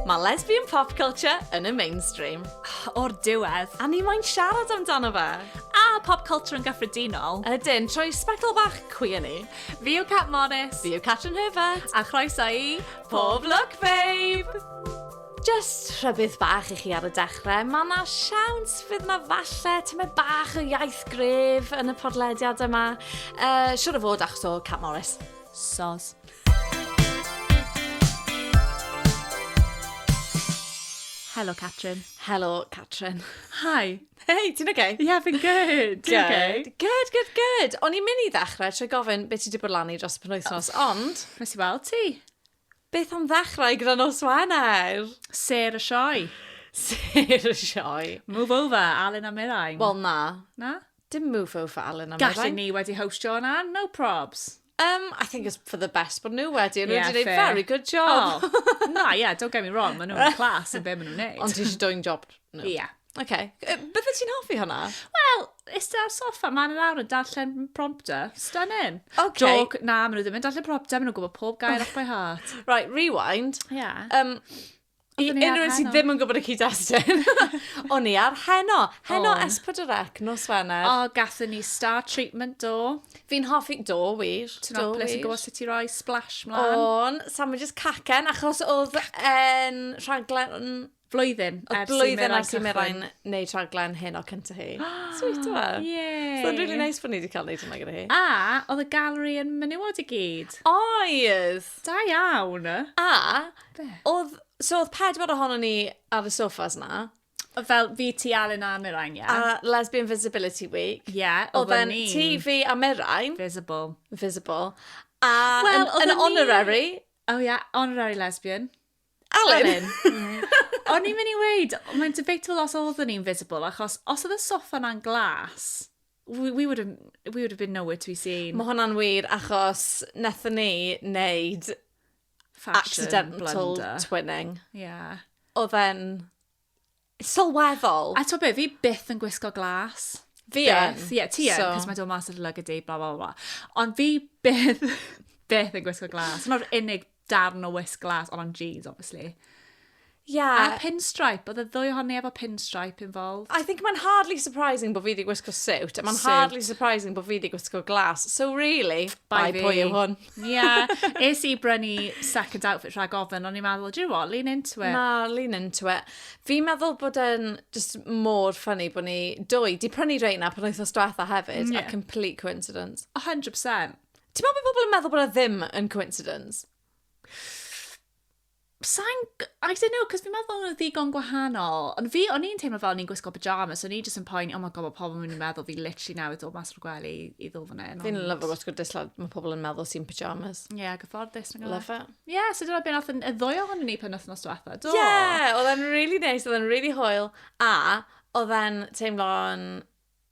Mae lesbian pop culture yn y mainstream. O'r diwedd, a ni moyn siarad amdano fe. A pop culture yn gyffredinol. Ydyn, trwy sbectol bach cwi yn ni. Fi yw Cat Morris. Fi yw Catrin Herbert. A chroeso i Pob Lwc Babe! Jyst rhybudd bach i chi ar y dechrau, mae yna siawns fydd yna falle tymed bach o iaith gref yn y podlediad yma. Uh, siwr o fod achos o Cat Morris. Sos. Helo, Catrin. Helo, Catrin. Hi. Hei, ti'n oce? Ie, yeah, fi'n good. Ti'n oce? Good, good, good. O'n i'n mynd i ddechrau trwy gofyn beth ti wedi bod lan i dros y penwythnos, ond... Nes i weld ti. Beth am ddechrau gyda nos Wener? Sêr y sioe. Sêr y sioe. Move over, Alun a Mirain. Wel na. Na? Dim move over, Alun a Mirain. Gallu ni wedi hostio yna, no probs. Um, I think it's for the best bod nhw wedi. Nhw wedi gwneud very good job. Oh, na, yeah, don't get me wrong, maen nhw'n class yn be maen nhw'n neud. Ond ti eisiau doing job nhw. Ie. Yeah. Oce. Yy, Bydde ti'n hoffi hwnna? Wel, iste ar soffa, man yn awr yn darllen prompter. Stunning. Ok. Joc, na, maen nhw ddim yn darllen prompter, maen nhw'n gwybod pob gair off by heart. Right, rewind. Ia. Um, I Oeddwn i ar unrhyw un sydd heno. ddim yn gwybod y cyd-destun, o'n i ar heno. Heno O'n. S4C, nos Wener. O, gathen ni star treatment do. Fi'n hoffi... Do, wir. Ti'n Do, apelus yn wir. gwybod sut i roi splash mlaen. O'n, Sam yn just cacen, achos oedd yn rhaglen Flwyddyn ers i Merain cychwyn. Blwyddyn ers i Merain wneud rhaglen hyn o cynta hi. Sweet yma. Ie. So'n really nice bod ni wedi cael wneud hwnna gyda hi. A, oedd y gallery yn menywod i gyd. Oedd! Da iawn! A, oedd, so oedd pedwar ohono ni ar y sofas na. Fel fi, ti, Alun a Merain, ie. Yeah. A Lesbian Visibility Week. Ie, yeah, oedd yn ni. Ti, fi a Merain. Visible. Visible. A, well, yn, yn honorary. Oh yeah, honorary lesbian. Alun! Alun. Hmm. O'n i'n mynd i weud, mae'n debatable os oedd yn invisible, achos os oedd y sofa na'n glas, we, we, would have, we would have been nowhere to be seen. Mae hwnna'n wir, achos nethon ni wneud Fashion accidental blunder. twinning. Yeah. Oedd e'n Sylweddol. A ti'n be, fi byth yn gwisgo glas. Fi yn. Ie, yeah, ti yn, cos mae dod mas o'r lug ydi, bla, bla, bla. Ond fi byth, byth yn gwisgo glas. Mae'r unig darn o wisg glas, ond o'n jeans, obviously. Yeah. A pinstripe, oedd y ddwy ohoni efo pinstripe involved. I think mae'n hardly surprising bod fi wedi gwisgo suit, a mae'n hardly surprising bod fi wedi gwisgo glas. So really, bye, bye pwy yw hwn. Yeah, es i brynu second outfit rhag ofyn, ond i'n meddwl, do you know what, lean into it. Na, lean into it. Fi'n meddwl bod e'n just mor ffynnu bod ni dwy. Di prynu reina pan oes os dwetha hefyd, yeah. a complete coincidence. 100%. Ti'n meddwl bod pobl yn meddwl bod e ddim yn coincidence? Sai'n g- I don't know, 'cos fi'n meddwl bod nhw'n ddigon gwahanol. Ond fi, o'n i'n teimlo fel o'n i'n gwisgo pyjamas, so o'n i jyst yn poeni, oh my god, mae pobl yn mynd i meddwl fi literally newydd dod mas o'r gwely i ddod fan hyn. Fi'n ond- lyfo gwisgo dislawr, mae pobl yn meddwl sy'n pyjamas. Ie, yeah, gyfforddus. nag oedd e? Love it. Ie, yeah, so dyna beth nath y ddwy ohonyn ni pen wythnos diwetha, do? Ie, oedd e'n really nice, oedd e'n really hwyl, a oedd e'n teimlo'n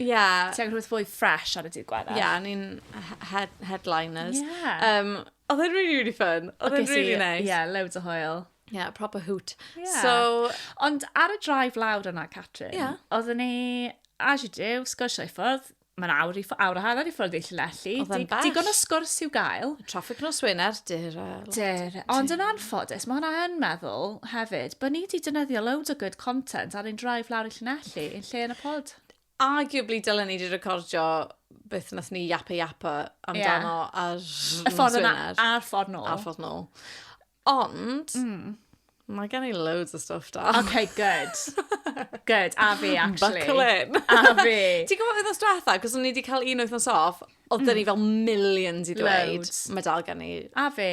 Ie. Ti angen rhywbeth fwy fresh ar y dydd Gwener. Ie, yeah, ni'n head headliners. Ie. Yeah. Um, oedd e'n really, really fun. Oedd e'n really nice. Ie, yeah, loads o hoel. Ie, yeah, proper hoot. Yeah. So... Ond ar y drive lawr yna, Catrin, yeah. oedden ni, as you do, sgwrsio i ffwrdd, mae'n awr i ffwrdd, awr a hanner i ffwrdd i Llanelli. Oedd e'n bell. Digon o sgwrs i'w gael. Traffic nos Wener, dyr. Dyr. Ond yn anffodus, mae hwnna yn meddwl hefyd, bod ni wedi dynyddio loads o good content ar ein drive lawr i Llanelli. Lle? Lle yn y pod? Arguably dylen ni wedi recordio beth nath ni yapa yapa amdano yeah. ar y ffordd yna a'r ffordd nôl. A'r ffordd nôl. Ond, mm. mae gen i loads o stuff da. Okay, good. good, a fi, actually. Buckle in. a fi. Ti'n gwybod oedd os diwetha, cos o'n i wedi cael un oeth yn sof, oedd mm. dyn ni mm. fel millions i ddweud. Mae dal gen i. A fi.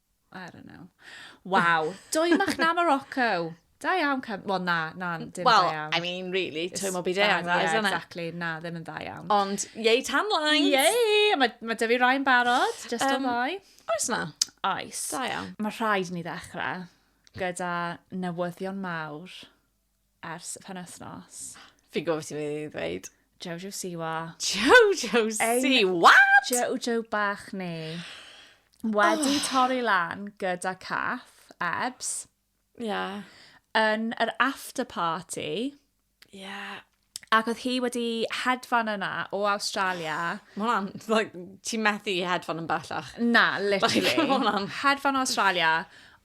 I don't know. Waw, dwy machnau Morocco. Da iawn, Cam... Wel, na, na, dim well, da iawn. Wel, I mean, really, twy mo byd e agos, yeah, isn't exactly. it? Na, ddim yn da iawn. Ond, yei, tan lines! Yei! Mae ma Dyfu Rai yn barod, just um, o ddau. Oes na? Oes. Da iawn. Mae rhaid ni ddechrau gyda newyddion mawr. ers y penwthnos. Fi'n gwybod beth ti'n mynd i ddweud. Jojo Siwa. Jojo Siwa! Jojo bach ni. Wedi oh. torri lan gyda caff, ebs. Ie. Yeah. Yn yr after party. Ie. Yeah. Ac oedd hi wedi hedfan yna o Australia. Mae hwnna'n, like, ti'n methu i hedfan yn bellach. Na, literally. Like, mae hwnna'n... Hedfan o Australia,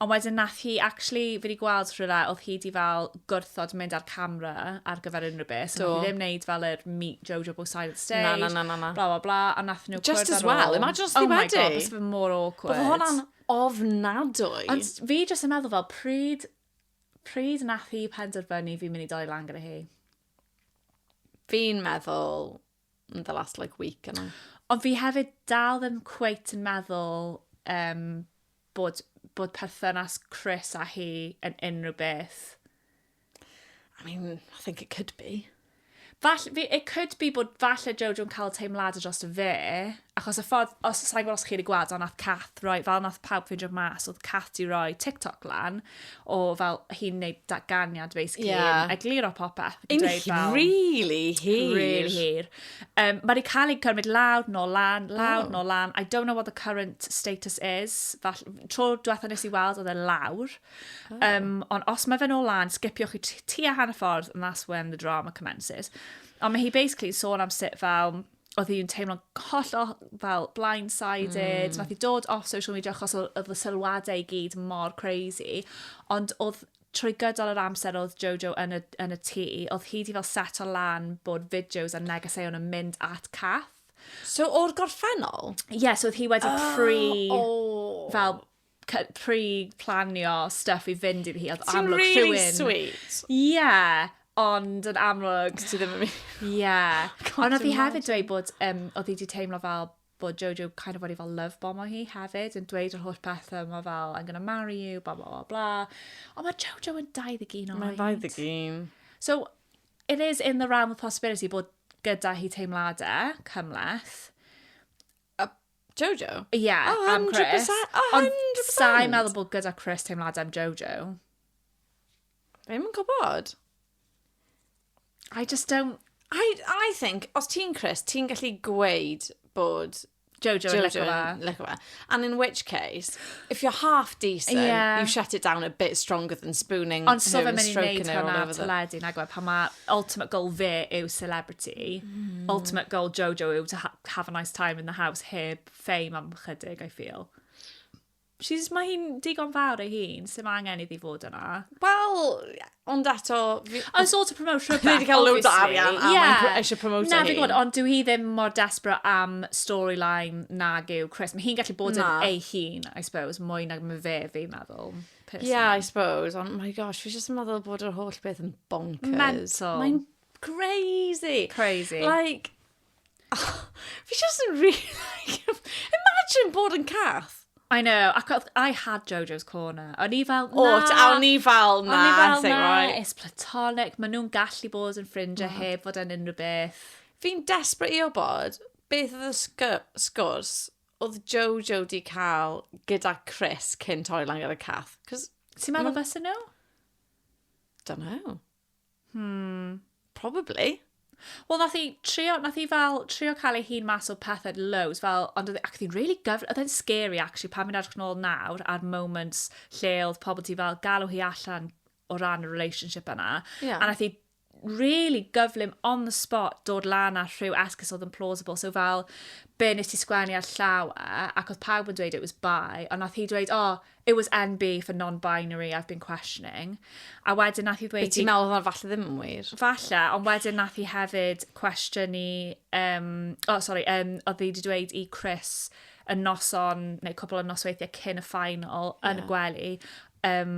ond wedyn nath hi, actually, fi wedi gweld rhywle, oedd hi wedi fel gwrthod mynd â'r camera ar gyfer unrhyw beth. So, nath hi ddim neud fel yr meet Jojo both sides of the stage. Na, na, na, na, na. Bla, bla, bla. A nath nhw Just as well, imagine os ti wedi. Oh my god, bys fe mor awkward. Bod hwnna'n ofnadwy. Ond fi jyst yn meddwl fel pryd Pryd nath hi penderfynu fi'n mynd i doi lan gyda hi? Fi'n meddwl yn the last like week yna. Ond fi hefyd dal ddim cweit yn meddwl um, bod, bod perthynas Chris a hi yn unrhyw beth. I mean, I think it could be. Fall- fi- it could be bod falle Jojo'n cael teimladau drosto fe, achos y ffordd, os sa'n gwybod os chi wedi gweld, ond nath Cath roi, fel nath pawb ffindio mas, oedd Cath di roi TikTok lan, o fel hi'n neud datganiad, basically, Ie. yn egluro popeth. ac yn Yn dweud hi- fel- really hir. Really hir. Um, mae wedi cael ei cymryd lawr, nôl lan, lawr, Oh. nôl lan. I don't know what the current status is. Fall, tro diwetha nes i weld, oedd e lawr. Oh. Um, ond os mae fe'n ôl lan, sgipiwch i ti a hanner ffordd, and that's when the drama commences. Ond mae hi basically sôn am sut fel, oedd hi'n teimlo'n hollol fel blindsided, mm. nath hi dod off social media achos oedd y sylwadau i gyd mor crazy, ond oedd trwy gydol yr amser oedd Jojo yn y, yn y tŷ, oedd hi di fel set o lan bod fideos a negeseuon yn mynd at Cath. So o'r gorffennol? Ie, yeah, so oedd hi wedi oh, pre... Oh. Fel pre planio stuff i fynd iddi hi. Oedd Ti'n amlwg really rhywun... sweet. Yeah, ond yn amlwg... Ti ddim yn mynd. Yeah. God, Ond oedd hi dwi'n hefyd dweud bod, um, oedd hi wedi teimlo fel bod Jojo kind of wedi fel love bomo hi hefyd, yn dweud yr holl pethau yma fel, I'm gonna marry you, bla bla bla bla. Ond mae Jojo yn 21 oed. Mae'n 21. So, it is in the realm of possibility bod gyda hi teimladau cymleth. Jojo? Ie, am Chris. 100%, 100%! Ond sa i'n meddwl bod gyda Chris teimladau am Jojo. Fi ddim yn gwybod. I just don't... I, I think, os ti'n Chris, ti'n gallu gweud bod Jojo, Jojo licio fe. Licio fe. And in which case, if you're half decent, yeah. you shut it down a bit stronger than spooning Ond so fe mynd i wneud hwnna ar teledu, nag we, pan mae ultimate goal fe yw celebrity, mm. ultimate goal Jojo yw to ha have a nice time in the house heb fame am chydig, I feel. She's, mae hi'n digon fawr ei hun, sy'n mae angen iddi fod yna. Wel, ond eto... I sort of promote rhywbeth, obviously. Wedi cael loads o arian a yeah. mae'n eisiau promote ei hun. Na, fi gwybod, ond dwi hi ddim mor desbryd am storyline nag yw Chris. Mae hi'n gallu bod yn ei hun, I suppose, mwy nag mae fe, fi'n meddwl. Personally. Yeah, I suppose. Ond, my gosh, fi jyst yn meddwl bod yr holl beth yn bonkers. Mental. Mae'n crazy. Crazy. Like, Oh, fi just yn really... Imagine bod yn cath. I know, ac I had Jojo's Corner. O'n i fel, na. O, o'n i fel, na. O'n i fel, na, right. it's platonic. Mae nhw'n gallu bod yn ffrindiau mm. heb fod yn unrhyw beth. Fi'n desbryd i o bod beth oedd y sgwrs oedd Jojo di cael gyda Chris cyn torri lan gyda Cath. Ti'n meddwl beth yn nhw? Don't know. Hmm, probably. Wel, nath i trio, nath i fel trio cael ei hun mas o pethau loads, fel, ond oedd, e, ac oedd hi'n really gyfr, oedd e'n scary actually, pan fi'n edrych nôl nawr ar moments lle oedd pobl ti fel galw hi allan o ran y relationship yna. Yeah. A nath i really gyflym on the spot dod lan â rhyw esgus oedd yn plausible. So fel, be nes ti sgwennu ar llaw e, ac oedd pawb yn dweud it was bi, ond nath hi dweud, oh, it was NB for non-binary, I've been questioning. A wedyn nath i ddweud... Be ti'n meddwl oedd falle ddim yn wir? Falle, ond wedyn nath i hefyd cwestiynu... Um, oh, sorry, um, oedd hi wedi dweud i Chris y noson, neu cwbl o nosweithiau cyn y final, yeah. yn y gwely, um,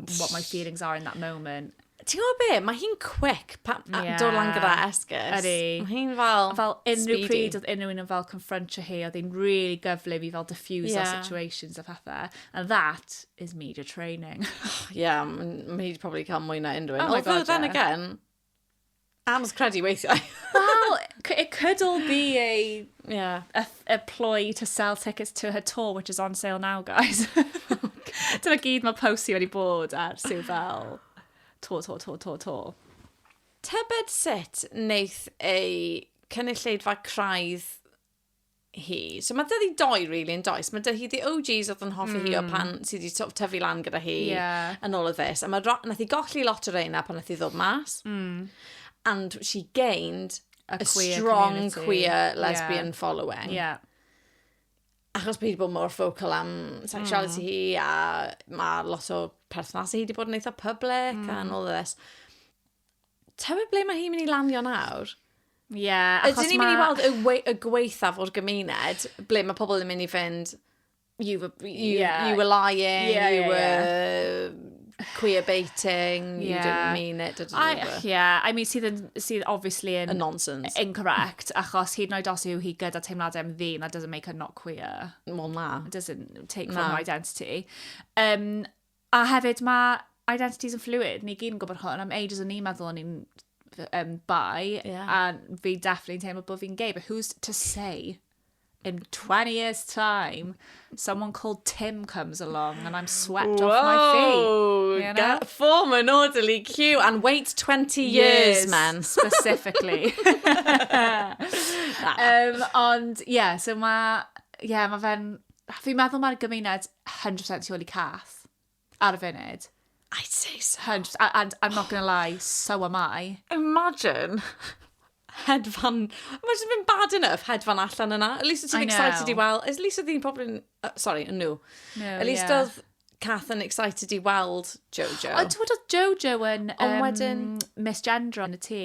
what my feelings are in that moment. Ti'n gwybod be? Mae hi'n quick pan yeah. Ie. dod lan gyda esgus. Ydy. Mae hi'n fel Fel unrhyw speedy. pryd oedd unrhyw un yn fel confrontio hi, oedd hi'n really gyflym i fel diffuse yeah. Ie. situations a pethau. And that is media training. Ie, yeah, mae hi wedi probably cael mwy na unrhyw un. Oh my Although God, then yeah. again, Anodd credu weithiau. well, it could all be a, yeah. a, a ploy to sell tickets to her tour, which is on sale now, guys. Dyna gyd mae Posey wedi bod ar sy'n fel to, to, to, to, to. Tybed sut wneith ei cynulleidfa craidd hi. So mae dydi doi really yn does. Mae dydi the OGs oedd yn hoffi mm. hi o hmm. pan sydd wedi sort of tyfu lan gyda hi yeah. yn ôl y ddys. A mae nath i golli lot o reina pan nath i ddod mas. Mm. And she gained a, a queer strong community. queer lesbian yeah. following. Yeah. Achos bod hi wedi bod mor focal am sexuality mm. hi a mae lot o perthnasau hi wedi bod yn eitha public mm. and all this. Tywed ble mae hi'n mynd i lanio nawr? Ie, yeah, achos mae... Ydyn ni'n mynd i weld y, we y gweithaf o'r gymuned, ble mae pobl yn mynd i fynd, you were, you, yeah. you were lying, yeah, you yeah, were... Yeah queer baiting, you yeah. didn't mean it, didn't I, it? Yeah, I mean, sydd, yn, sydd obviously yn... A nonsense. Incorrect, achos hyd yn oed os yw hi gyda teimladau am ddyn, that doesn't make her not queer. Well, na. It doesn't take na. from her identity. Um, A hefyd, mae identities yn fluid. Ni gyd yn gwybod hwn. Am ages o'n ni'n meddwl o'n i'n um, bi, yeah. a fi definitely yn teimlo bod fi'n gay, but who's to say? in 20 years' time, someone called Tim comes along and I'm swept Whoa, off my feet. You know? Form an orderly queue and wait 20 years, years man. Specifically. um, ond, ie, yeah, so mae, ie, yeah, mae fe'n, fi'n meddwl mae'r gymuned hundred percent tu ôl i Cath ar y funud. I'd say so. Hundred, a- and I'm not gonna lie, so am I. Imagine. Hedfan. Imagine been bad enough hedfan allan yna. At least I ti'n excited know. i weld. At least oedd hi'n probably... Uh, sorry, yn nhw. No, At least yeah. oedd Cath yn excited i weld Jojo. Ond ti'n gwybod oedd Jojo yn Ond um, wedyn- misgendro yn y tŷ?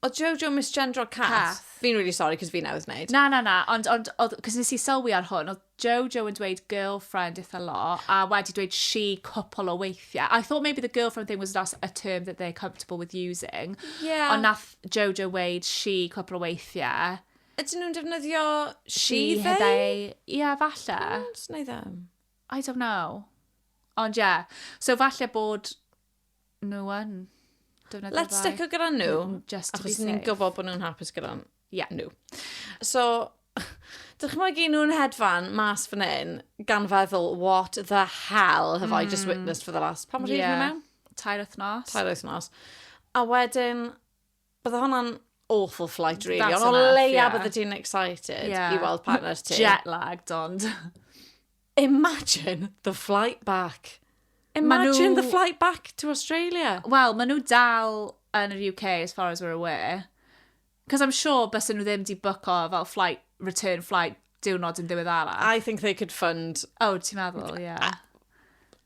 O Jojo misgendro Cath? Cath. Fi'n really sorry, cos fi newydd wneud. Na, na, na, ond, ond, oedd, cos nes i sylwi ar hwn, oedd Jojo yn dweud girlfriend eitha lo, a wedi dweud she cwpl o weithiau. I thought maybe the girlfriend thing was just a term that they're comfortable with using. Yeah. Ond nath Jojo weid she cwpl o weithiau. Ydyn nhw'n defnyddio she, she they? they? Yeah, falle. Ond, neu ddim. I don't know. Ond, yeah. So, falle bod nhw yn defnyddio Let's bai. stick o gyda nhw, mm, just to achos ni'n gwybod bod nhw'n hapus gyda yeah. nhw. So, dych chi'n mwyn nhw'n hedfan mas fan hyn, gan feddwl, what the hell have mm. I just hmm. witnessed for the last... Pan mor hyd yeah. mewn? Tair wythnos. Tair wythnos. A wedyn, Bydde hwnna'n awful flight, really. That's Ond o enough, leia yeah. bydde ti'n excited yeah. i weld partner ti. Jet lagged, ond. Imagine the flight back. Imagine nhw... the flight back to Australia. Wel, maen nhw dal yn yr UK as far as we're aware. Cos I'm sure bys nhw ddim di book o fel flight, return flight diwrnod yn ddiwedd arall. I think they could fund... Oh, ti'n meddwl, ie. Yeah.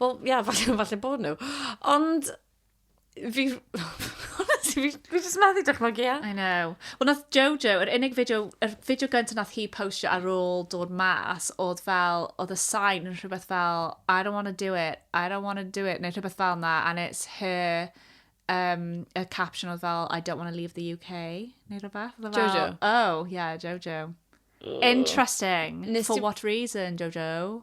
Wel, ia, falle, falle bod nhw. Ond, fi... fi, fi jyst methu dychmygu, ia. I know. Wel, nath Jojo, yr unig fideo, yr fideo gyntaf nath hi postio ar ôl dod mas, oedd fel, oedd y sign yn rhywbeth fel, I don't want to do it, I don't want to do it, neu rhywbeth fel na, and it's her, um, y caption oedd fel, I don't want to leave the UK, neu rhywbeth. Oedd e fel, Jojo? Oh, yeah, Jojo. Interesting. Nes For ti- what reason, Jojo?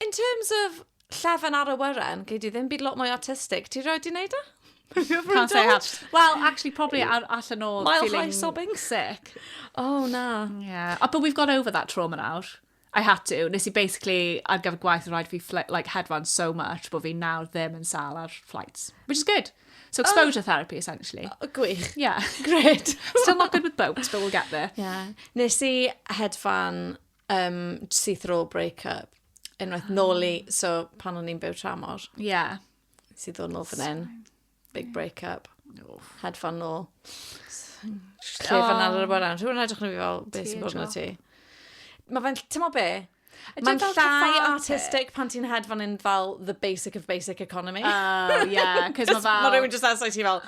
In terms of llefen ar y wyren, gei di ddim byd lot mwy artistig. Ti roi di wneud e? Can't say I have. Well, actually, probably ar allan o Mile feeling high sobbing. sick. Oh, na. Yeah. Oh, but we've got over that trauma nawr. I had to. Nes i basically, ar gyfer gwaith, rhaid fi like, hedfan so much bod fi nawr ddim yn sal ar flights. Which is good. So exposure oh. therapy, essentially. Oh, gwych. Yeah. Great. Still not good with boats, but we'll get there. Yeah. Nes i hedfan Um, syth ar ôl break-up. Unwaith nôl i, ah. so pan o'n i'n byw tramor. Ie. Yeah. Sydd ddod nôl fan hyn. Big break-up. Had fun nôl. Lle fan ar y bwrna. Rwy'n edrych na fi fel, beth sy'n bod na ti? Mae fe'n, ti'n mo be? Mae'n llai artistic pan ti'n hedfan yn fel the basic of basic economy. Oh, yeah, cos mae fel... Mae rhywun just asau ti fel,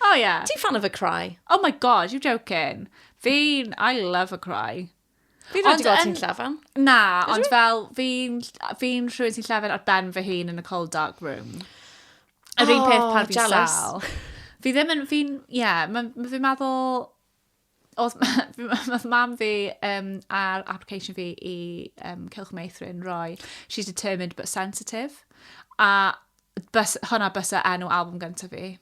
Oh yeah. Ti'n fan of a cry? Oh my god, you joking. Fi'n, I love a cry. Fi rhaid i gael ti'n llafan. Na, ond fel, fi'n fi rhywun sy'n llafan ar ben fy hun yn y cold dark room. Yr oh, un peth pan fi'n sal. Fi ddim yn, fi'n, ie, yeah, fi'n meddwl, oedd, oedd mam fi um, ar application fi i um, Cilch Meithrin roi She's Determined But Sensitive. A bys, hwnna bysa enw album gyntaf fi.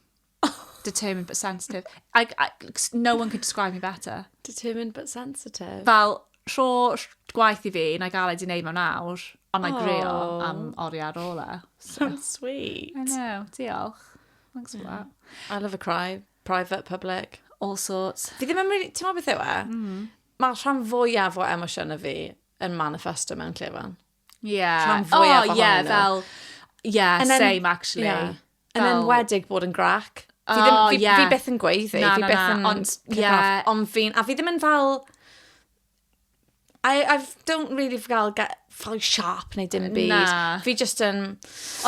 Determined But Sensitive. I, I, no one could describe me better. Determined But Sensitive. Fel rho gwaith i fi, na gael ei di wneud mewn awr, ond na grio am oriau ar ôl e. So, so sweet. I know, diolch. Thanks for that. I love a cry. Private, public, all sorts. Fi ddim yn mynd... Ti'n meddwl beth yw e? Mm. Mae rhan fwyaf o emosiynau fi yn manifesto mewn lle fan. Yeah. Rhan fwyaf oh, ohonyn yeah, nhw. Fel, yeah, then, same actually. Yeah. Fel... Yn enwedig bod yn grac. Fi, ddim, oh, fi, yeah. fi beth yn gweiddi, na, fi na, beth yn... Ond, yeah. Ond fi'n... A fi ddim yn fel I, I don't really gael get very sharp neu dim byd. Na. Fi just yn...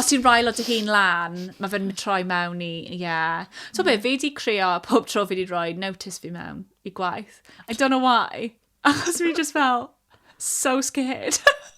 Os ti'n rhael o dy hun lan, mae fe'n troi mewn i, ie. Yeah. So be, fi di creo pob tro fi di roi notice fi mewn i gwaith. I don't know why. Achos fi just fel, so scared.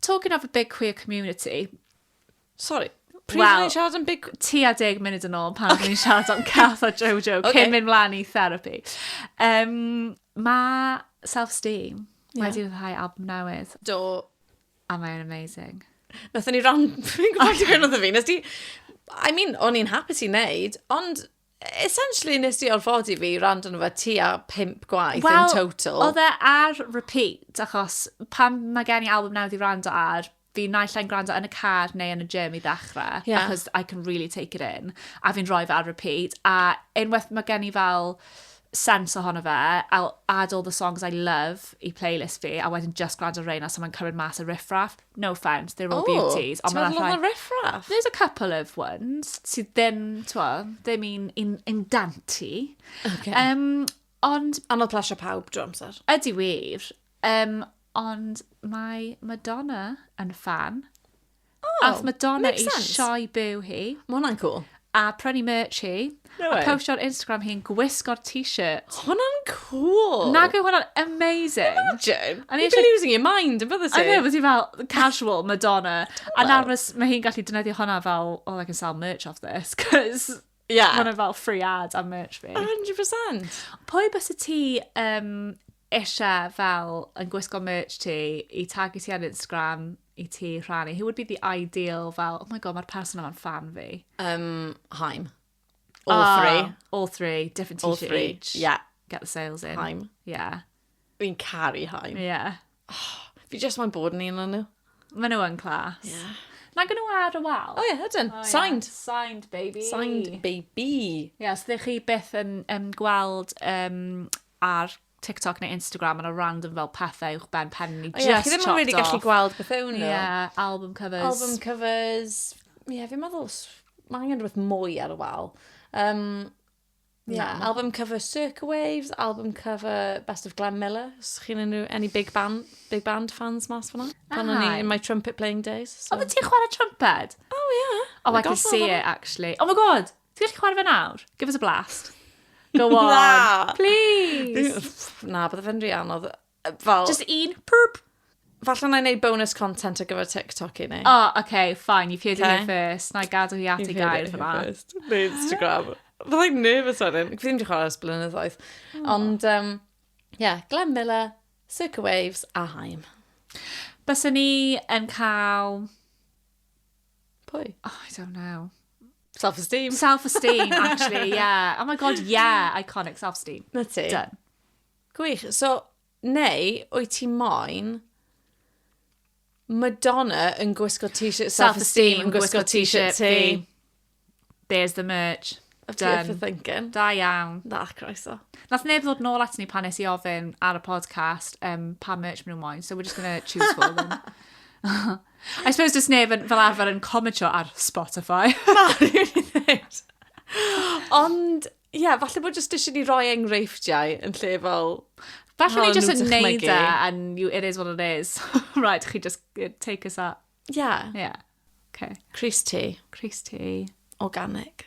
Talking of a big queer community... Sori, pryd well, ni'n siarad am big... Ti a deg munud yn ôl pan okay. ni'n siarad am Cath a Jojo okay. cyn mynd mlaen i therapy. Um, mae self-esteem yeah. wedi rhyddhau album newydd. Do. A mae'n amazing. Nath ni ran... Fi'n gwybod ti'n gwneud fi. Nes ti... I mean, o'n i'n hapus i wneud, ond essentially nes di orfodi fi rand yn fy ti a pimp gwaith well, in total. Wel, oedd e ar repeat, achos pan mae gen i album newydd i rando ar, fi naill ai'n gwrando yn y car neu yn y gym i ddechrau, yeah. achos I can really take it in, a fi'n rhoi fe ar repeat, a unwaith mae gen i fel sense ohono fe, I'll add all the songs I love i playlist fi, a wedyn just gwrando reina, so mae'n cymryd mas y riffraff. No offence, they're all O, beauties. Ond ti'n mae 'na meddwl rhai... o'na riffraff? There's a couple of ones sydd ddim, t'mo, ddim un un un danti. Ocê. Yym, ond Anodd plasio pawb drwy amser. ydy wir, um, ond mae Madonna yn ffan. Oh, Ath Madonna makes i sense. sioe byw hi. Mae hwnna'n cool. A prynu merch hi. No way. A postio ar Instagram hi'n gwisgo'r t-shirt. Hwna'n cŵl! Nag yw hwnna'n amazing? Imagine! O'n i You'd be eisiau- losing your mind yn bydde I know, ti? but ti fel, casual Madonna. A nawr fys- mae hi'n gallu defnyddio hwnna fel, oh, I can sell merch off this, 'cos Ie. ma' hwnna fel free ad am merch fi. A hundred percent! Pwy byse ti yn eisiau fel yn gwisgo merch ti, i tagu ti ar Instagram, i ti rhannu, who would be the ideal fel, oh my god, mae'r person yma'n fan fi? Um, Haim. All Ah, three. All three, different All t-shirt three, each. yeah. Get the sales in. Haim. Yeah, Fi'n caru Haim. yeah. Fi just moyn bod yn un o'n nhw. Mae nhw yn class. Yeah. Nag o'n nhw ar y wal? O ie, ydyn. Oh, yeah. Signed. Signed, baby. Signed baby. Ie, os ydych chi byth yn, yn gweld um, ar TikTok neu Instagram, yna random fel pethau uwch ben pen ni, just chopped off. Ie, chi ddim yn really gallu gweld bethau nhw. Ie, album covers. Album covers. Ie, yeah, fi'n meddwl, mae angen rhywbeth mwy ar y wal. Um, yeah, no. album cover Circa Waves, album cover Best of Glenn Miller. Os chi'n unrhyw, any big band, big band fans mas fyna. Pan o'n i in my trumpet playing days. So. Oedd ti'n chwarae trumpet? Oh, yeah. Oh, I, I can see it, actually. Oh my god! Ti'n gallu chwarae fe nawr? Give us a blast. Go on. Na. Please. Na, bydde fe'n rhi anodd. Fel... Just un perp. Falle na i wneud bonus content ar gyfer TikTok i ni. O, oh, okay, fine. You've heard okay. it here first. Na i gadw hi at ei gair fyna. Neu Instagram. Fyddai'n nervous o'n un. Fi ddim wedi chwarae ers blynyddoedd. Oh. Ond, um, yeah, Glenn Miller, Circa Waves a Haim. Bysa ni yn cael... Pwy? Oh, I don't know. Self-esteem. Self-esteem, actually, yeah. Oh my god, yeah, iconic self-esteem. Na ti. Done. Gwych. So, neu, wyt ti moyn Madonna yn gwisgo t-shirt self-esteem yn gwisgo t-shirt ti. There's the merch. Of ti Done. thinking. Da iawn. Da, croeso. Nath neb ddod nôl at ni pan nes i ofyn ar y podcast um, pa merch maen nhw'n moyn, so we're just going to choose for them. I suppose does neb yn, fel arfer yn comentio ar Spotify. Na, rwy'n i ddweud. Ond, ie, yeah, falle bod jyst eisiau ni roi enghreifftiau yn lle fel... Falle ni jyst yn neud e, and you, it is what it is. right, chi just uh, take us up. Yeah. Yeah. Okay. Crease tea. Crease tea. Organic.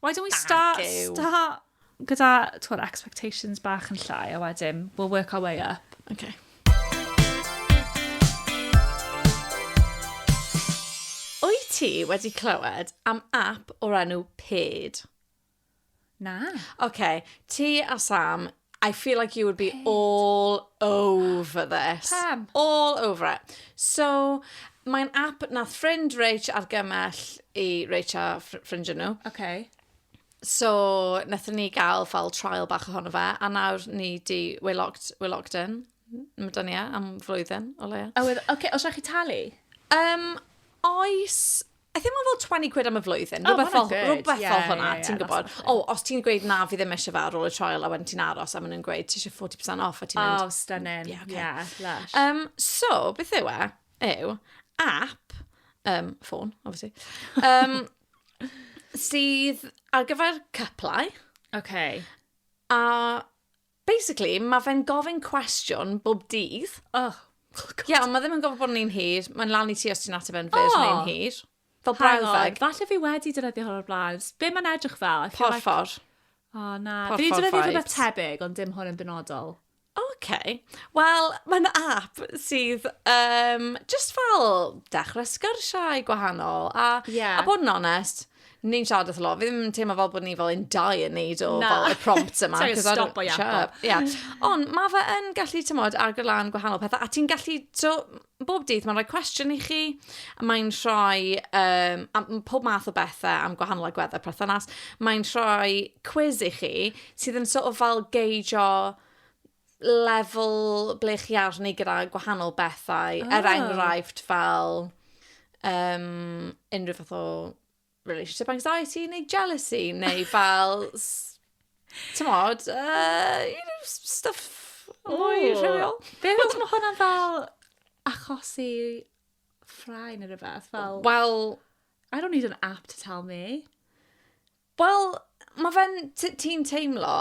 Why don't we start, start gyda, twod, expectations bach yn llai, a wedyn, we'll work our way up. Okay. Wyt ti wedi clywed am app o'r enw Paid? Na. OK, ti a Sam, I feel like you would be Pid. all over this. Pam? All over it. So, mae'n app nath ffrind Rach argymell i Rach a ffrind nhw. Okay. So, nethon ni gael fel trial bach ohono fe, a nawr ni di, we're locked, we're locked in. Mae da ni e am flwyddyn, o leia. A wedd, oce, okay, os rhaid chi talu? Um, oes, I think mae'n fel 20 quid am y flwyddyn, rhywbeth fel, rhywbeth fel hwnna, ti'n gwybod. O, os ti'n gweud na, fi ddim eisiau fe ar ôl y trial, a wedyn ti'n aros, a maen nhw'n gweud, ti eisiau 40% off, a ti'n mynd... Oh, stunning, yeah, okay. yeah lush. Um, so, beth yw e? Yw, app, um, ffôn, obviously, um, sydd ar gyfer cyplau. Okay. A Basically, mae fe'n gofyn cwestiwn bob dydd. Oh, god. Ie, yeah, ond mae ddim yn gofyn bod yn un hir. Mae'n lan i ti os ti'n ateb yn fyr oh. neu'n hir. Fel brawddeg. Falle fi wedi dynyddio hwn o'r blaen. Be mae'n edrych fel? Porffor. Like... O, oh, na. Porffor fi wedi dynyddio rhywbeth tebyg, ond dim hwn yn benodol. OK. Wel, mae'n app sydd um, just fel dechrau sgyrsiau gwahanol. A, yeah. a bod yn onest, Ni'n siarad eitha lot. Fi ddim yn teimlo fel bod ni fel yn dau yn neud o Na. fel y prompts yma. Sorry, 'cause I don't- stop o iawn. Shut up. Ie. Ond mae fe yn gallu, tymod, agor lan gwahanol pethau. A ti'n gallu, so, bob dydd mae'n rhoi cwestiwn i chi. a Mae'n rhoi um, am, pob math o bethau am gwahanol agweddau perthynas. Mae'n rhoi quiz i chi sydd yn sort of fel geidjo lefel ble chi arni gyda gwahanol bethau. Oh. Er ah. enghraifft fel um, unrhyw fath o relationship anxiety neu jealousy neu fel, ti'n modd, uh, you know, stuff mwy rhywiol. Be fel ti'n hwnna'n fel achosi ffrae neu rhywbeth? Fel... Well, I don't need an app to tell me. Wel, mae fe'n... t- ti'n teimlo...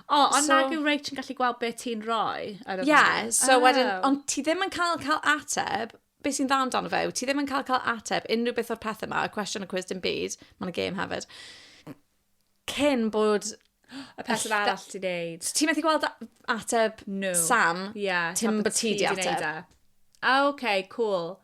O, ond so... nag yw Rach yn gallu gweld beth ti'n rhoi ar y Ie, yeah, so oh. wedyn, ond ti ddim yn cael cael ateb, beth sy'n dda amdano fe, ti ddim yn cael cael ateb unrhyw beth o'r pethau yma, y cwestiwn y cwys dim byd, mae'n y gêm hefyd, cyn bod y person arall ti'n neud. Ti'n methu gweld ateb no. Sam, yeah, ti'n bod ti di ateb. E. Ah, oce, okay, cool.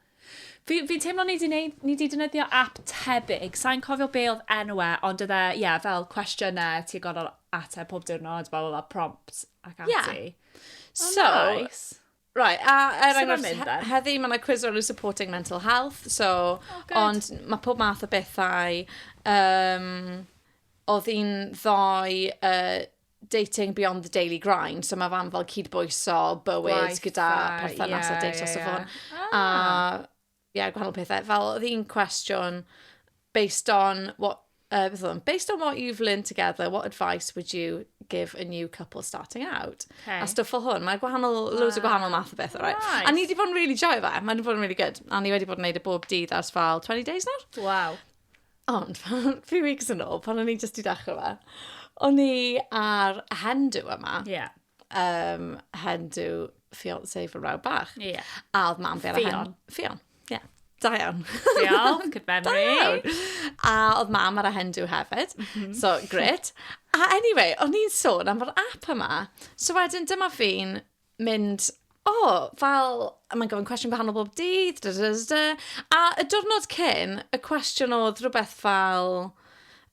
Fi, fi'n teimlo ni di, neud, ni di dynyddio app tebyg. Sa'n cofio be oedd enw e, ond oedd e, ie, yeah, fel cwestiynau, ti'n gorfod ateb pob diwrnod, bla bla bla, prompt ac ati. Yeah. So, oh, nice. Right, a er enghraifft, heddi mae yna quiz rownd supporting mental health, so, oh, ond mae pob math o bethau. Um, oedd hi'n ddoe uh, dating beyond the daily grind, so mae fam fel cyd-bwyso, bywyd gyda perthynas yeah, a data yeah, yeah. so ah. A yeah, gwahanol pethau. Fel oedd hi'n cwestiwn, based on what uh, based on what you've learned together, what advice would you give a new couple starting out? Okay. A stuff fel hwn, mae gwahanol, wow. loads o gwahanol math o beth, right? Nice. A ni wedi bod yn really joy fe, mae wedi bod yn really good. A ni wedi bod yn neud y bob dydd ars fel 20 days nawr. Wow. Ond, few weeks yn ôl, pan o'n i jyst i dechrau fe, o'n i ar hen dw yma. Ie. Yeah. Um, hen dw fiancé fy mrawd bach. Ie. Yeah. A oedd mam fi ar y hen... Fion. Ie. Yeah. Da iawn. Diolch, good memory. Da iawn. A oedd mam ar y hen dw hefyd. Mm -hmm. So, gret. A anyway, o'n i'n sôn am yr app yma. So wedyn, dyma fi'n mynd, o, fel, mae'n gofyn cwestiwn gwahanol bob dydd, da, da, da, da. A y diwrnod cyn, y cwestiwn oedd rhywbeth fel,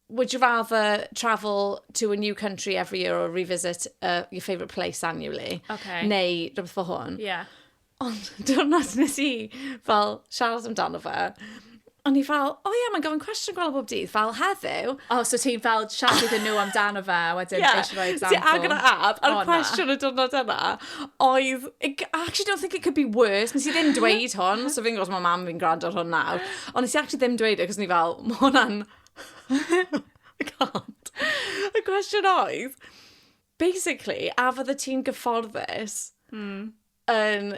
would you rather travel to a new country every year or revisit uh, your favourite place annually? Okay. Neu rhywbeth fel hwn. Yeah. Ond diwrnod nes i fel siarad amdano fe, o'n i fel, o ie, mae'n gofyn cwestiwn gwael bob dydd, fel heddiw. O, oh, so ti'n fel siarad iddyn nhw amdano fe, wedyn yeah. eisiau rhoi example. Ti agor y app, a'r oh, cwestiwn y diwrnod yna, oedd, actually don't think it could be worse, nes i ddim dweud hwn, so fi'n gwrs mae mam fi'n gwrando ar hwn nawr, ond nes i actually ddim dweud e, cos ni fel, mae hwnna'n... I can't. Y cwestiwn oedd, basically, a fydde ti'n gyfforddus mm. yn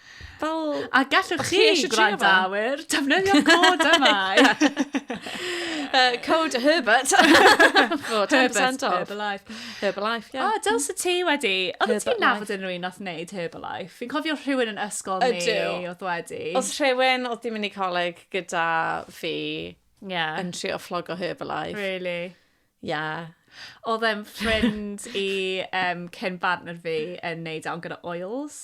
Fel, a gallwch chi, gwrandawyr, defnyddio cod yma. uh, cod Herbert. oh, 10% off. Herbalife. Herbalife, ie. Yeah. Oh, dyl sy'n ti wedi. Oedd ti'n nafod yn rhywun oedd wneud Herbalife? Fi'n cofio rhywun yn ysgol ni oedd wedi. Oedd rhywun oedd di mynd i coleg gyda fi yeah. yn trio fflogo Herbalife. Really? Yeah. Oedd e'n ffrind i um, Ken Bartner fi yn neud awn gyda oils.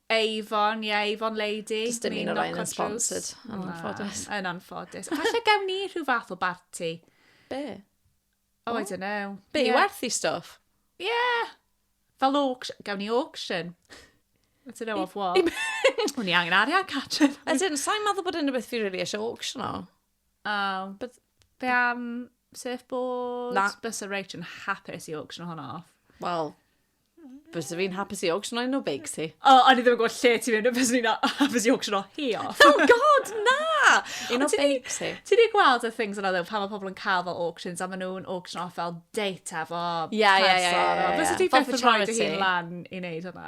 Avon, ie, yeah, Avon Lady. Just dim un o'r rhain yn sponsored, yn anffodus. Yn anffodus. Falle gawn ni rhyw fath o barti. Be? Oh, oh. I don't know. Be, yeah. werth i stuff? Yeah. Fel auction, gawn ni auction. I don't know of what. O'n i angen arian, Catrin. As in, sa'n meddwl bod unrhyw beth fi really eisiau auction o. Oh. But... Be am surfboards? Na. Bys y reit yn hapus i auction hwnna off. Wel, Bysa fi'n hapus i auction o'n o beics hi. O, oh, o'n i ddim yn gwybod lle ti fynd, bysa fi'n hapus i auction o hi o. Oh god, na! Un o beics hi. Ti wedi gweld y things yna ddew, pan mae pobl yn cael fel auctions, a maen nhw'n auction off fel data fo. Ie, ie, ie. Bysa ti beth yn rhoi dy hun lan i wneud hwnna?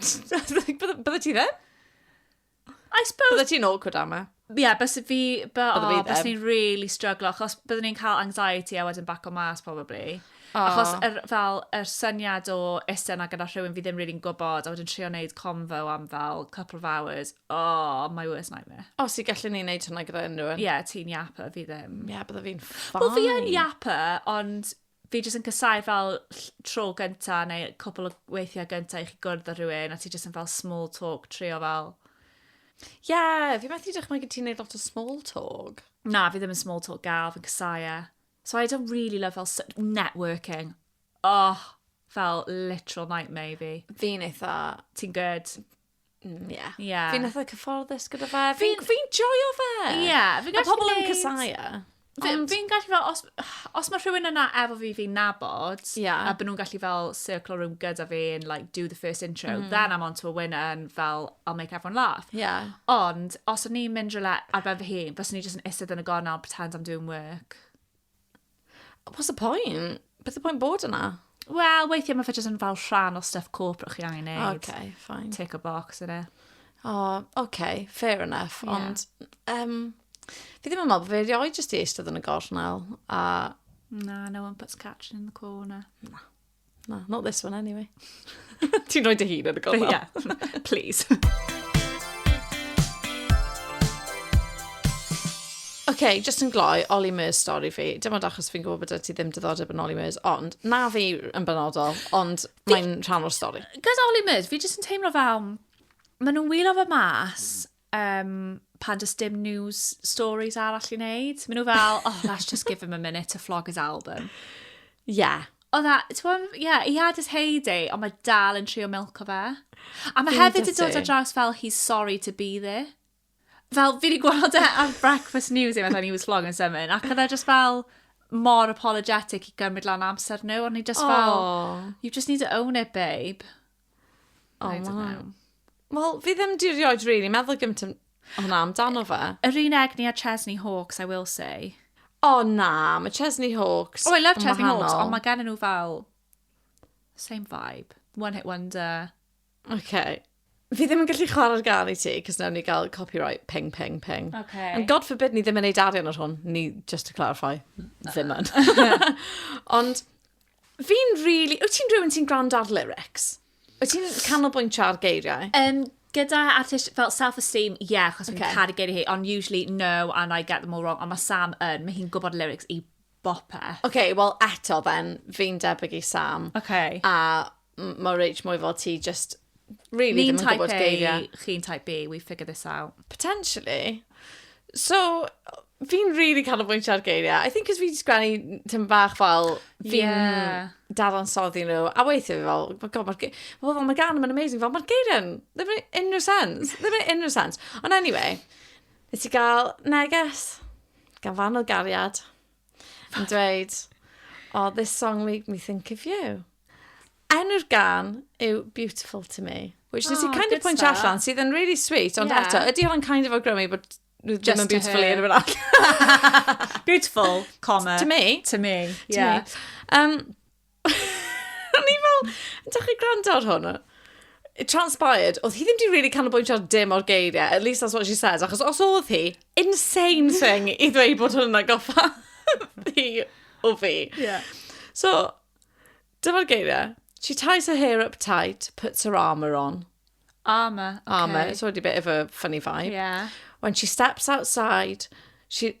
Bydde ti ddim? I suppose... Bydde ti'n awkward am e? Ie, yeah, bys fi... Bydde oh, fi ddim. Bys ni'n really struggle, achos byddwn ni'n cael anxiety a wedyn back o mas, probably. Oh. Achos er, fel, yr er syniad o eistedd yna gyda rhywun fi ddim rili'n really gwybod, a wedyn trio wneud convo am fel couple of hours, oh, my worst nightmare. O, oh, si gallu ni'n neud hwnna gyda unrhyw un? Ie, yeah, ti'n iapa, fi ddim. Ie, yeah, bydde fi'n fine. Wel, fi yn iapa, ond fi jyst yn casau fel tro gynta neu cwpl o weithiau gynta i chi gwrdd â rhywun a ti jyst yn fel small talk trio fel... Ie, yeah, fi methu dychmygu ti'n neud lot o small talk. Na, fi ddim yn small talk gal, fi'n casau e. So I don't really love fel networking. Oh, fel literal nightmare fi. Fi'n eitha... Ti'n good? Mm, yeah. Yeah. Fi'n eitha cyfforddus gyda fe. Fi'n fi, fi joio fe. Ie. Yeah, fi a pobl yn cysau Fi'n fi gallu fel, os, os mae rhywun yna efo fi fi'n nabod, yeah. a byd nhw'n gallu fel circle room gyda fi and like do the first intro, mm. then I'm on to a winner and fel I'll make everyone laugh. Yeah. Ond, os o'n i'n mynd rhywle ar ben fy hun, fes o'n i jyst yn isedd yn y gornel, pretend I'm doing work. What's the point? Beth y pwynt bod yna? Wel, weithiau mae fe jyst yn fel rhan o stuff corporate chi angen neud. Okay, fine. Tick a box yn e. Oh, okay, fair enough. Yeah. Ond, um, fi ddim yn meddwl bod fe rioed jyst i eistedd yn y gornel. A... Na, no one puts catch in the corner. Na. Na, not this one anyway. Ti'n rhoi dy hun yn y gofal? Ie, yeah. please. okay, just yn gloi, Ollie Murs stori fi. Dim ond achos fi'n gwybod bod ti ddim diddordeb yn Ollie Murs, ond na fi yn benodol, ond mae'n rhan o'r stori. Gos Ollie Murs, fi jyst yn teimlo fel, maen nhw'n wylio fe mas, um, pan does dim news stories arall i wneud. Maen nhw fel, oh, let's just give him a minute to flog his album. Yeah. O dda, ti'n bod, yeah, he had his heyday, ond mae dal yn trio milk o fe. A mae hefyd yn dod o draws fel, he's sorry to be there. Fel, fi wedi gweld e ar Breakfast News, efo, he was flog yn symud, ac oedd e just fel, mor apologetic i gymryd lan amser nhw, ond ni just oh. fel, you just need to own it, babe. Oh, I don't know. Wel, fi ddim di rioed really meddwl gymaint am hwnna amdano fe. Yr un egni a Chesney Hawks, I will say. O oh, na, mae Chesney Hawks Oh, I love Chesney Hawks, ond mae gen nhw fel... Same vibe. One hit wonder. Okay. Fi ddim yn gallu chwarae'r gan i ti, cos newn ni gael copyright ping, ping, ping. Okay. And God forbid ni ddim yn neud arian o'r hwn, ni, just to clarify, ddim yn. Ond, Fi'n really... Wyt ti'n rhywun sy'n gwrando ar lyrics? Wyt ti'n canolbwyntio ar geiriau? Um, gyda artist fel self-esteem, ie, yeah, achos okay. fi'n caru geiriau hi, ond usually no, and I get them all wrong, ond mae Sam yn, mae hi'n gwybod lyrics i bopeth. Oce, okay, wel eto then, fi'n debyg i Sam. Oce. Okay. A Mae Rach mwy fel ti, just really ddim yn gwybod geiriau. Ni'n type A, chi'n type B, we figure this out. Potentially. So, fi'n really canolbwyntio ar geiriau. I think cos fi'n sgwennu tyn bach fel fi'n yeah. dadansoddi nhw. A weithio fi fel, oh god, mae'r well, fel, mae gan yma'n amazing. Fel, mae'r geiriau, ddim yn unrhyw sens. Ddim yn unrhyw sens. Ond anyway, nes i gael neges gan fan o gariad. yn dweud, oh, this song made me think of you. Enw'r gan yw Beautiful to Me, which oh, ti kind of pwynt allan, sydd yn really sweet, ond yeah. eto, ydy hwnna'n kind of awgrymu bod Just ddim beautiful i rhywun arall. beautiful, comma. To me. To me, yeah. To me. Um, O'n i fel, ydych chi gwrando ar hwn? It transpired, oedd hi ddim di really canolbwyntio ar dim o'r geiriau, at least that's what she said, achos os oedd hi, insane thing i ddweud bod hwn yn agoffa hi o fi. Yeah. So, dyma'r geiriau. She ties her hair up tight, puts her armour on. Armour, okay. Armour, it's already a bit of a funny vibe. Yeah. When she steps outside, she...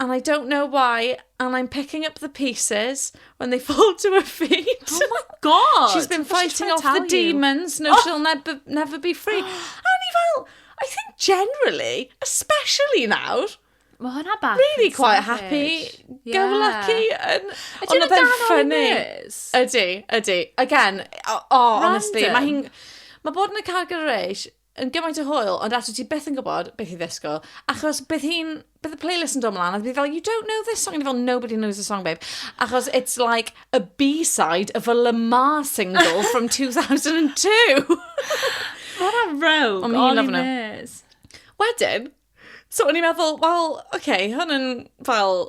And I don't know why, and I'm picking up the pieces when they fall to her feet. Oh my god! She's been fighting off the demons, no oh. she'll never, never be free. a ni fel, I think generally, especially now, Mae hwnna bach Really quite happy, yeah. go lucky. And, ydy hwnna dan ffynnu. Ydy, ydy. Again, oh, honestly, mae hi'n... Mae bod yn y Car Garage yn gymaint o hwyl, ond actually ti beth yn gwybod beth i ddisgwyl, achos bydd hi'n, bydd y playlist yn dod mlaen, a bydd fel, you don't know this song, and fel, nobody knows the song, babe. Achos it's like a B-side of a Lamar single from 2002. What a rogue, Ond o'n i'n nes. Wedyn, so o'n i'n meddwl, wel, oce, okay, hwn yn fel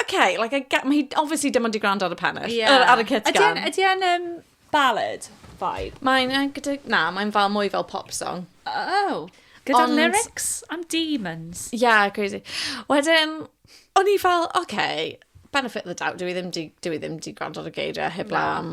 Okay, like, I get, mae hi obviously dim ond i gwrando ar y pennill, yeah. ar, ar y kit gan. Ydy e'n um, ballad vibe? Mae'n, uh, gyda, na, mae'n fel mwy fel pop song. Oh, gyda Ond... lyrics am demons. Yeah, crazy. Wedyn, o'n i fel, okay, benefit the doubt, dwi ddim di, dwi ddim di gwrando ar y geiriau heb no. am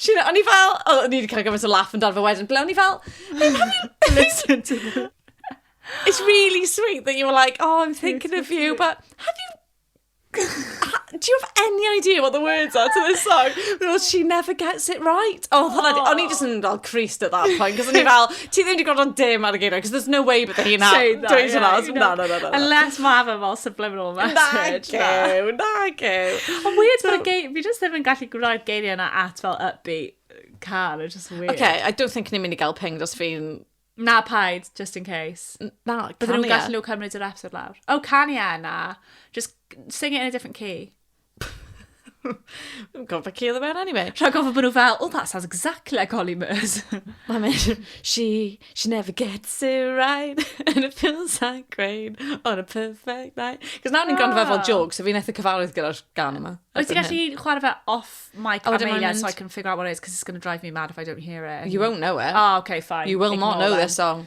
Sian, o'n i fel, o, o'n i wedi cael gymaint o laff yn dan fy wedyn, ble o'n i fel, listen to me. It's really sweet that you were like, oh, I'm thinking of you, but have you do you have any idea what the words are to this song? Well, she never gets it right. Oh, oh. o'n i just yn fel creased at that point, cos o'n i fel, Ti ddim wedi gwrando dim ar y geiriau, because there's no way bydde hi'n Saying that, dweud hwnna. yeah, you Na, know. na, na, na. na. Unless mae fe fel subliminal message. na. Nagew, nagew. Ond weird bod y geir... Fi jyst ddim yn gallu gwrai'r geiriau yna at fel upbeat car. It's just weird. Okay, I don't think ni'n mynd i gael ping dros fi'n... Na paid, just in case. Na, Bydden nhw'n canu e. gallu nhw cymryd yr episode lawr. Oh, canu e na. Just sing it in a different key. Dwi'n gwybod beth ci oedd y mewn anyway. Rhaid gofod bod nhw fel, oh, that sounds exactly like Holly Murs. Mae'n mynd, she, she never gets it right, and it feels like rain on a perfect night. Cos nawr ni'n gwrando fe fel ah. joke, so fi'n eitha cyfarwydd gyda'r gan yma. Wyt ti'n gallu chwarae fe off mic oh, Amelia so I can figure out what it is, because it's going to drive me mad if I don't hear it. You won't know it. Oh, okay, fine. You will Ignore not know them. this song.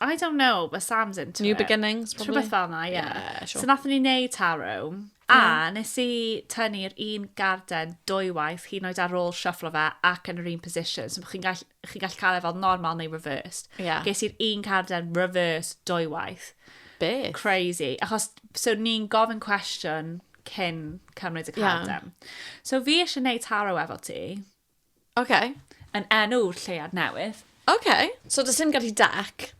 I don't know, but Sam's into New it. New beginnings, probably. Rhywbeth fel yna, ie. Yeah. Yeah, sure. So nath ni neud taro, a yeah. nes i tynnu'r un garden dwywaith, hyn oed ar ôl shuffle fe ac yn yr un position. So chi'n gallu, chi gallu cael e fel normal neu reversed. Yeah. Ges i'r un garden reversed dwywaith. Beth? Crazy. Achos, so ni'n gofyn cwestiwn cyn cymryd y carden. Yeah. So fi eisiau neud taro efo ti. Oce. Yn enw'r lleuad newydd. Oce. So does dim gallu deck.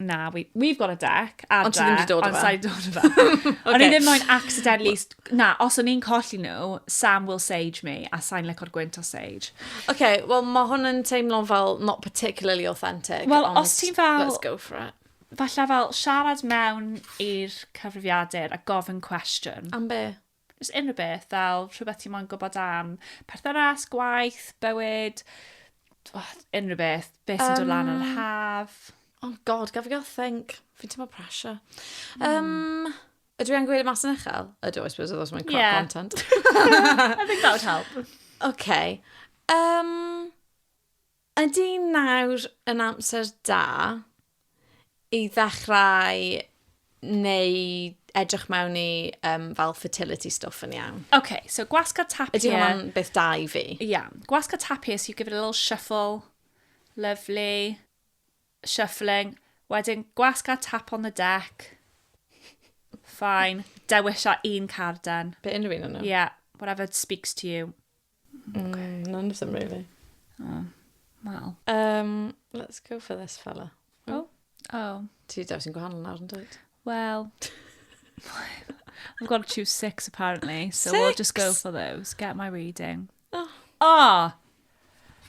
Na, we, we've got a deck. Adra, ond ti ddim wedi dod o fe. Ond sa'i dod o fe. okay. O'n i ddim moyn accidentally... Na, os o'n i'n colli nhw, Sam will sage me, a sa'n licor gwynt o sage. Oce, okay, wel mae hwn yn teimlo'n fel not particularly authentic. Wel, os ti'n fel... Let's go for it. Falle fel siarad mewn i'r cyfrifiadur a gofyn cwestiwn. Am be? Jyst unrhyw beth, fel rhywbeth ti moyn gwybod am perthynas, gwaith, bywyd, unrhyw beth, beth sy'n dod lan yn yr haf. Oh god, gaf i gael think. Fi'n teimlo pressure. Um, ydw i angen gweud y mas yn uchel? Ydw, I suppose, os mae'n crop yeah. content. I think that would help. OK. Um, Ydy nawr yn amser da i ddechrau neu edrych mewn i um, fel fertility stuff yn iawn? OK, so gwasga tapie. Ydy hwnna'n beth da i fi? Ie, yeah. gwasga tapie, so you give it a little shuffle. Lovely. Shuffling. Wedyn gwasga tap on the deck. Fine. Dewisa un carden. Be unrhyw un o'n nhw? Yeah, whatever speaks to you. Ok. Mm, none of them really. Oh, wel. Um, let's go for this fella. Oh. Oh. Ti daw sy'n gwahanol nawr yn dweud. Well, I've got to choose six apparently, so we we'll just go for those. Get my reading. Oh. Oh!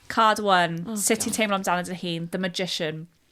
Card one. Oh, Sut ti'n teimlo amdano dy hun? The Magician.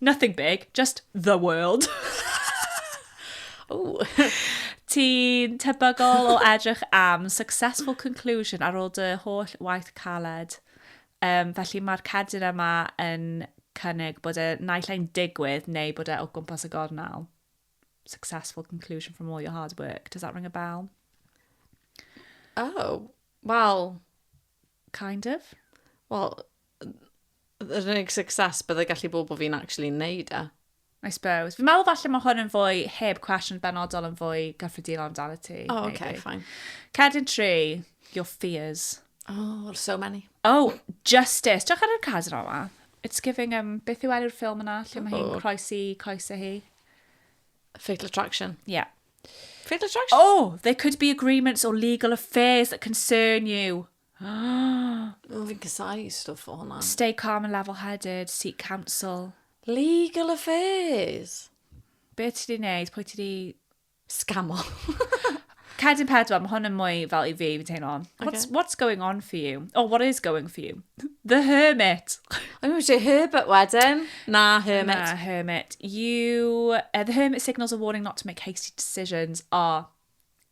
Nothing big, just the world. Ooh. Ti'n tebygol o edrych am successful conclusion ar ôl dy holl waith caled. Um, felly mae'r cerdyn yma yn cynnig bod e naill ai'n digwydd neu bod e o gwmpas y gornel. Successful conclusion from all your hard work. Does that ring a bell? Oh, well... Kind of? Well, yr unig success byddai gallu bod bod fi'n actually neud e. I suppose. Fi'n meddwl falle mae hwn yn fwy heb cwestiwn benodol yn fwy gyffredinol amdano ti. Oh, maybe. okay, fine. Cerdyn tri, your fears. Oh, there's so many. Oh, Justice. Diolch ar yr cadr yma. It's giving, um, beth yw enw'r ffilm yna? Lle mae hi'n oh. croesi coesau hi? Fatal Attraction. Yeah. Fatal Attraction? Oh, there could be agreements or legal affairs that concern you. O, fi'n casau stwff o hwnna. Stay calm and level headed, seek counsel. Legal affairs! Be ti di wneud? Pwy ti di... Scamo. Cedyn pedwar, mae hwn yn mwy fel i fi, fi'n teimlo. Okay. What's, what's going on for you? Or what is going for you? The Hermit. I'm going to say Herbert wedyn. Na, Hermit. Na, Hermit. You, uh, the Hermit signals a warning not to make hasty decisions are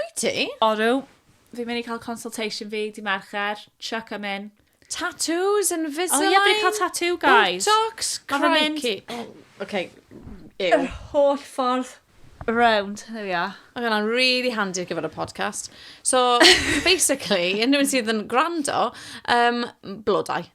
Wyt ti? Odw. Fi'n mynd i cael consultation fi di Mercher. Chuck am in. Tattoos, Invisalign... O ie, fi'n cael tattoo, guys. Botox, crikey. Ok, ew. Yr holl ffordd around. There we are. Mae hwnna'n really handy ar gyfer y podcast. So, basically, unrhyw un sydd yn gwrando, um, blodau.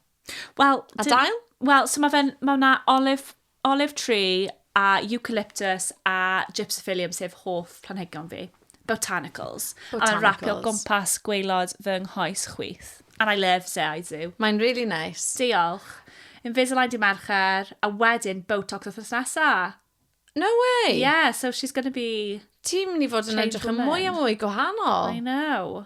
Wel... A dail? Wel, so mae fe'n... Mae yna olive Olive tree a eucalyptus a gypsiphyllum sef hoff planhigion fi. Botanicals. Botanicals. A rapio gwmpas gwaelod fy nghoes chwith. And I love Say I Do. Mae'n really nice. Diolch. Invisalign di Mercher a wedyn Botox wthnos nesa. No way! Yeah, so she's going to be... Ti'n mynd i fod yn edrych yn mwy a mwy gwahanol. I know.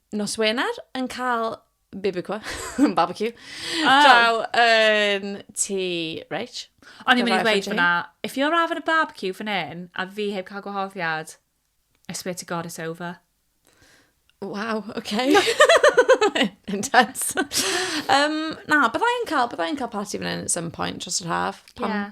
nos Wener yn cael bibecue, barbecue, oh. draw yn ti, Rach. O'n i'n mynd i ddweud fyna, if you're having a barbecue fan hyn, a fi heb cael gwahoddiad, I swear to God it's over. Wow, okay. Intense. um, na, byddai'n cael, byddai'n cael party fan hyn at some point dros yr haf. Pam, yeah.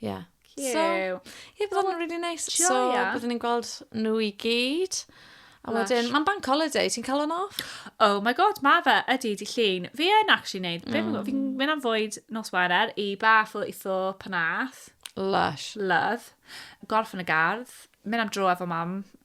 Yeah. Cute. So, ie, bydd hwnna'n really nice. So, joia. byddwn ni'n gweld nhw i gyd. A Lush. wedyn, mae'n bank holiday, ti'n cael o'n off? Oh my god, ma fe, ydy, di llun. Fi yn actually neud, mm. fi'n fi mynd am fwyd nos Wener i bach o itho panath. Lush. Love. Golf yn y gardd. Mynd am dro efo mam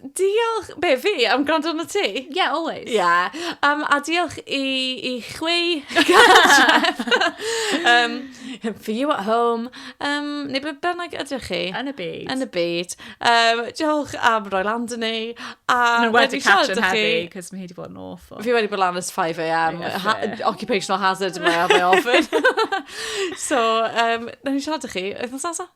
Diolch, be fi, am gwrando arno ti? Yeah, always. Yeah. Um, a diolch i, i chwi, um, for you at home, um, neu beth bynnag ydych chi. Yn y byd. Yn y byd. Um, diolch am roi lan dyn ni. A Mae'n wedi catch yn heddi, cos mae hi wedi bod yn awful. Fi wedi bod lan ys 5am. Yeah, ha occupational hazard yma, mae ofyn. so, um, na ni siarad â chi, wythnos nesaf.